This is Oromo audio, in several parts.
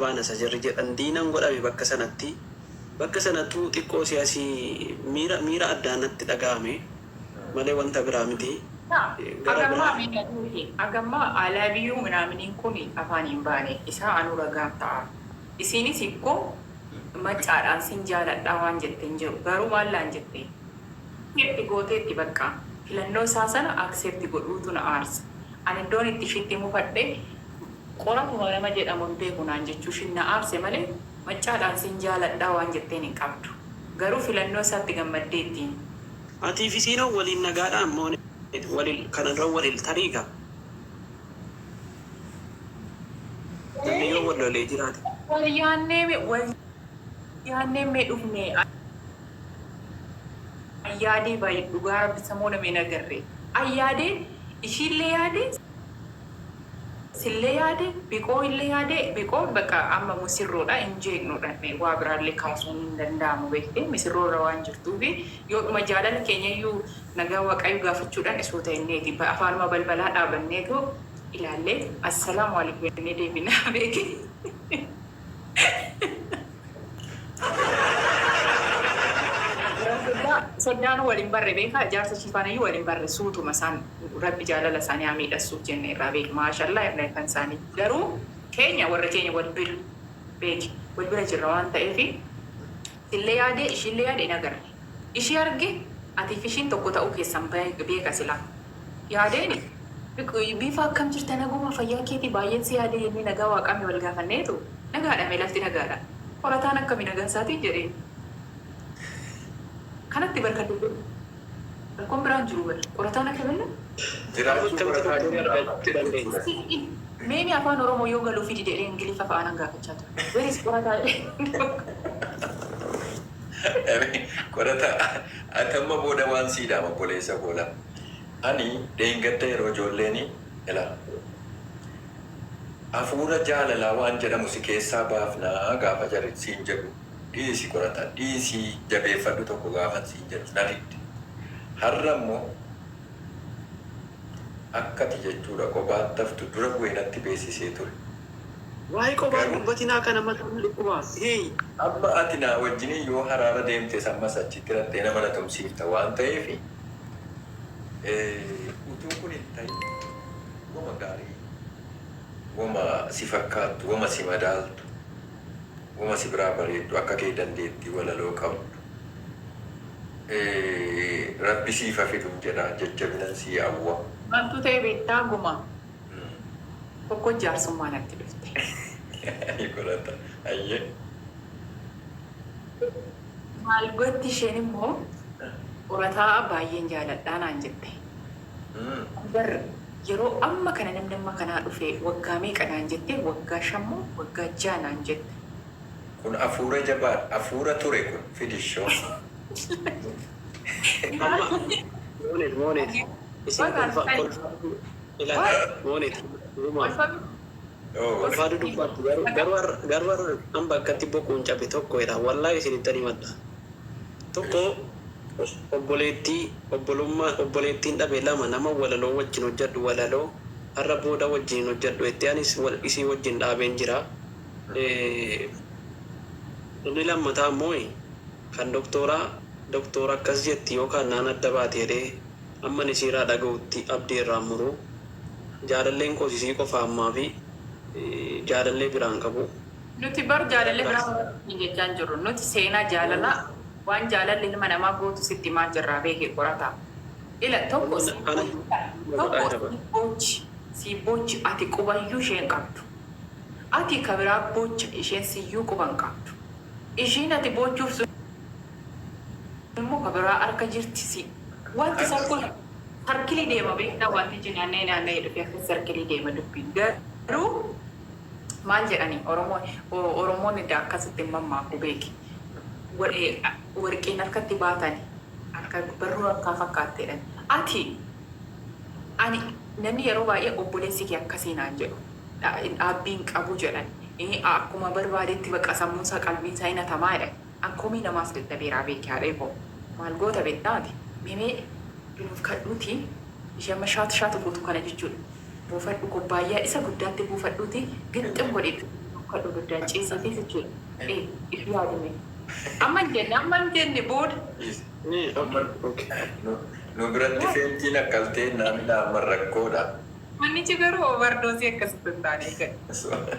Baanasa jarri jedhan diinan godhame bakka sanatti. Bakka sanattuu xiqqoo si'asi miira miira addaa natti dhagahame malee wanta biraa miti. Gara biraa. Agammaa I love you minaaminiin kun afaan hin baane. Isaa anuu ragaan ta'a. Isiinis ikko maccaadhaan sin jaaladhaa waan jette hin jiru. Garuu maal naan jette? Accept gooteetti baqqa. Filannoo isaa sana accept godhuutu na aarsa. Ani iddoon itti ishiitti mufadhe. Qoratuma nama jedhamu hin beeku naan jechuushiin na aarse malee Maccaadhaan sin jaaladha waan jetteen hin qabdu. Garuu filannoo isaatti gammaddeettiin. Atii fi Siinoon waliin nagaadhaan moone walil kana dura walil tarii gaa namni yoo wal lolee jiraate. Wal yaannee mee wal yaannee mee dhufne an yaadee baay'ee dhugaa rabbi samoona mee hin agarre an yaadee ishiillee yaadee. Sille yaade biqoo ille yaade biqoo baqa amma musirroodha hin jeeqnu dhanne waa biraalle kaasuun hin danda'amu beekte misirroo irra waan jirtuufi yoodhuma jaalala keenyayyuu nagaa waqayyo gaafachuudhan suuta inneeti afaanuma balbalaa dhaabanneetu ilaalle assalaamu alykum jennee deebina beeki. Soddaa soddaanuu wal hin barre beekaa ijaarsa ishii faanayyuu wal hin barre suutuma isaan rabbi jaalala isaanii haa miidhassuuf jenne irraa beeki maashallaa irra kan isaanii garuu keenya warra keenya wal bira beeki wal bira jirra waan ta'eefi sillee yaade ishiillee yaade hin agarre. Ishii arge ati fi ishiin tokko ta'uu keessan beeka silaa. Yaadeeni. Biifaa akkam jirta naguma fayyaa keetii baay'een si yaade jennee nagaa waaqaa mee wal gaafanneetu nagaadha mee lafti nagaadha qorataan akkami nagaa isaatiin jedheen kanatti bar kan dubbannu rakkoon biraan jiru bar qorataan akkamillee Jiraachuu qorataa jira argachuu dandeenya. Mee mee afaan oromoo yoo galuufi dide ree ingiliffa fa'aa nan gaafachaa ture where is qorataa jedhee. Eme qorata ati amma booda waan sii dhaama obboleessa koo la ani dheengadda yeroo ijoolleeni ela afuura jaalalaa waan jedhamu si keessaa baafna gaafa jari siin jedhu dhiisi qorata dhiisi jabeeffadhu tokko gaafan siin jedhus na didde harra immoo akka ati jechuudha qobaatti haftu dura bu'ee natti beessisee ture. Wly qobaa hin dubbatinaa kana mata na dhukkuba hii. Amma ati naa wajjini yoo haraara deemtes ammas achitti raxxee nama na tumsiifta waan ta'eef utuu kun hin tahin wama gaarii wama si fakkaattu wama si madaaltu wama si biraa bareeddu akka kee dandeettii walaloo qabdu rabbi siif ha fidun jedha jajjabinan sii awwa. Maltu ta'e beektaa gumaa. Tokkoon jaarsummaa natti dhufte. Ni godhata hayyee. Maal gotti isheen immoo qorataa'a baay'een jaaladha naan jette. Ani bar yeroo amma kana namni amma kanaa dhufee waggaa meeqa naan jettee waggaa shan moo waggaa ja'a naan jette. Kun afuura jabaadha afuura ture kun fidi ishoo. Amma Mooneef Mooneef isin kolfaa kolfaa. Ilala moone uumaan ulfaatu dubbaatti garuu har'a an bakkatti boquun cabe tokko jedha wallahi isinittan himadha tokko obboleettii obbolummaa obboleettiin dhabe lama nama walaloo wajjin hojjadhu walaloo har'a booda wajjin hin hojjadhu jettee anis isii wajjin dhaabeen jira inni lammataa immoo kan doktooraa doktoora akkas jetti yookaan naan adda baate jedhee Amman isiiraa dhaga'utti abdii irraa hin muru. Jaalalleen koos isii qofa ammaafi jaalallee biraa hin qabu. Nuti bar jaalallee biraa horadhu siin jechaa hin jirru. Nuti seenaa jaalalaa waan jaalalli ilma namaa gootu sitti himaa jirraa beeki qorataa. Ila tokko siif boochi bar tokko siif boochi siif boochi ati qubayyuu ishee hin qabdu. Ati ka biraa boocha isheen siyyuu quba hin qabdu. Ishiin ati boochuuf sun. Immo ka biraa arka jirti si. Wanti san kun sarkilii deema beektaa wanti ijji naanna'ee naanna'ee dhufee akkas sarkilii deema dubbiin garuu maal jedhani oromoon oromoon edda akkasitti hin mammaaku beeki warqiin harkatti baatani akka barruu harkaa fakkaatti jedhani ati ani namni yeroo baay'ee obboleessi kee akkasii naan jedhu dhaabbii hin qabu jedhani akkuma barbaadetti baqa sammuun isaa qalbiin isaa hin hatamaa jedhani An komii namaas dadhabeeraa beeki haadhee koo. Maal goota beektaa ati? Mee mee itti nuuf kadhuuti ishee amma shaat shaat gootu kana jechuudha. Buufadhu kubbaayyaa isa guddaatti buufadhuuti gixxim godhi itti nuuf kadhu ibiddaan ciisiitii jechuudha. Ee if yaadi mee. Amma hin jenne amma hin jenne booda. Nu biratti feentiin akkaltee hin dhaaminaa amma rakkoodha. Mannichi garuu overdose akkasitti hin taane eegadha.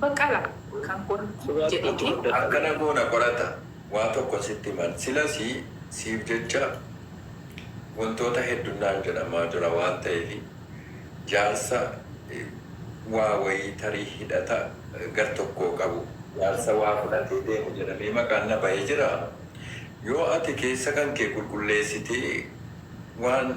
Baqqala kan kun jedheti. Akkana goona qorata waa tokkon sitti himan silasi siif jecha wantoota heddun naan jedhamaa jira waan ta'eefi jaarsa waa wayii tarii hidhata gar tokkoo qabu, jaarsa waa fudhatee deemu jedhamee maqaan na bahe jira yoo ati keessa kan kee qulqulleessitee waan.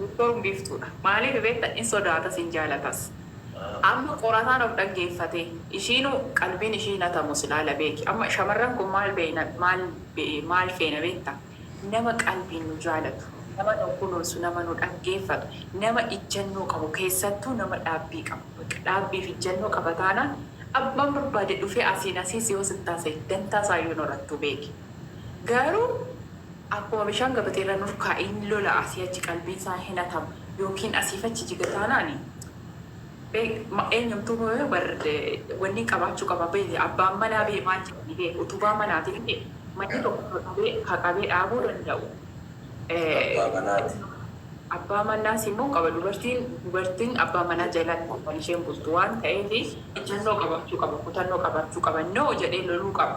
Doktoorn biiftuudha maaliif beekta in sodaatas in jaalatas amma qorataan of dhaggeeffatee ishiinu qalbiin ishii hin hatamu silaa la beeki amma shamarran kun maal beeyna maal maal feena beekta nama qalbiin nu jaalatu nama nu kunuunsu nama nu dhaggeeffatu nama ijjannoo qabu keessattuu nama dhaabbii qabu bakka dhaabbiif ijjannoo qaba taanaan abbaan barbaade dhufee asiin asiis yoo sittaasa'e dantaa isaayyuu hin horattu beeki garuu Akkuma bishaan gabatee irra hin urkaa'iin lola asii achi qalbiin isaa hin hatama yookiin asiif achi jiga taanaan eenyumtuu booya bar wanni qabaachuu qaba beeyte abbaan manaa bee maal jedhanii bee utubaa manaati miti manni tokko ka qabee ka qabee dhaabuu danda'u Abbaa manaati. abbaa manaas immoo qaba dubartiin dubartiin abbaa manaa jalaatti kan isheen bultu waan ta'eef ijjannoo qabaachuu qaba kutannoo qabaachuu qaba no jedhee loluu qaba.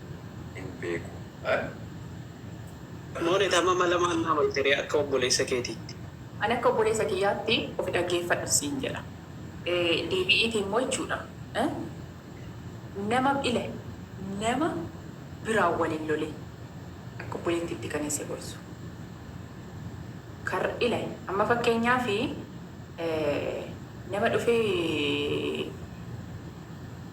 hin beeku an. Monet amma mala maal naa malte ree akka obboleessa keetiitti. Ani akka obboleessa kiyyaatti ofi dhaggeeffadhu siin jedha. Deebi'iitii mo'chuudha. Nama ila nama biraan wal hin lolin. Akka obboleettiitti kanin si gorsu. Kar ila amma fakkeenyaaf nama dhufee.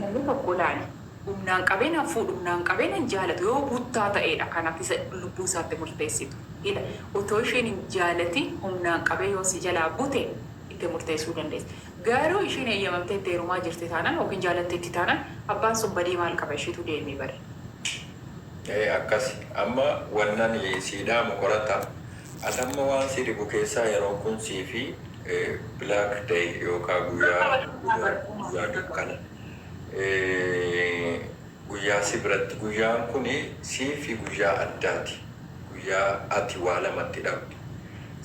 Namni tokko laali. Humnaan qabee nan fuudhu, humnaan qabee nan jaalatu yoo buttaa ta'eedha kan ati isa lubbuu isaatti murteessitu. Ila, otoo isheen hin jaalatiin humnaan qabee yoo si jalaa bute itti murteessuu dandeessa. Garuu isheen eeyyamamtee itti heerumaa jirti taanaan ykn jaalatteetti taanaan abbaan sun badee maal qaba ishiitu deemee bare. Ee akkasi. Amma wannani sii dhaamu qoradha. Ati amma waan si dhibu keessaa yeroon kun siifi black day yookaa guyyaa dudaa guyyaa dukkana guyyaa si biratti guyyaan kun siifi guyyaa addaati guyyaa ati waa lama itti dhabdu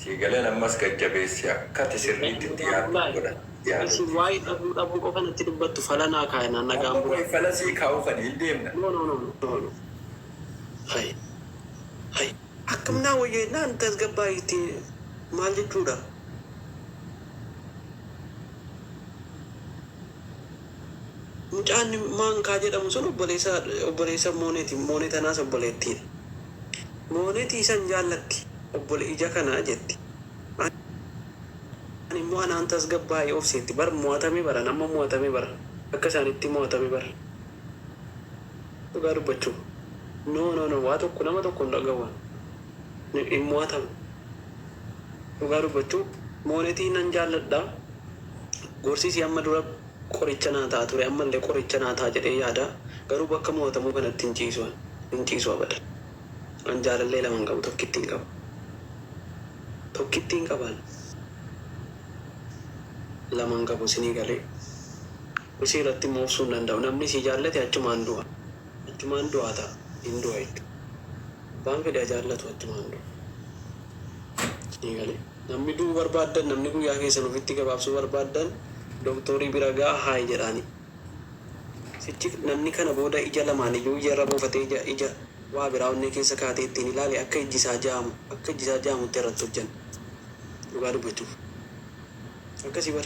sii galeen ammas gad jabeessi akka ati sirriitti itti yaaddu si godha itti yaadadhu. Akkam naa wayya jennaan tasgabbaa'i jettee maal jechuudha? Mucaan Maankaa jedhamu sun obboleessa obboleessa Mooneeti. Moonee tanaas obboleettiidha. Mooneeti isa hin jaallatti. Obbole ija kana jetti. Ani immoo anaan tasgabbaa'i obsi jetti. Bar mo'atame bar an amma mo'atame bar akka isaanitti mo'atame bar. Dhugaa dubbachuuf. No no no waa tokko nama tokko hin dhagahuun. Hin hin mo'atamu. Dhugaa dubbachuu moonetii nan jaalladha. Gorsi isii amma dura qoricha naa ta'a ture ammallee qoricha naa ta'a jedhee yaada. Garuu bakka mo'atamuu kanatti hin ciisu an. Hin ciisu abadan. An jaalallee lama hin qabu tokkittiin qaba. Tokkittiin qaba an. Lama hin qabu isinii galee. Isii irratti immoo obsuu hin danda'u. Namni sii jaallate achumaan du'a. Achumaan du'aa ta'a. Hin du'a jechuudha. Abbaan fedhe haa jaallatu achumaan du'a. Sii galee? Namni du'uu barbaaddan, namni guyyaa keessan ofitti gabaabsuu barbaaddan doktoorii bira ga'a haayi jedhaanii. Sichi namni kana booda ija lamaan iyyuu ija irra buufatee ija ija waa biraa onnee keessa kaa'atee ittiin ilaale akka ijji isaa jaamu akka ijji isaa jaamutti irratti hojjanna. Dhugaa dubbachuuf. Akkasii bar.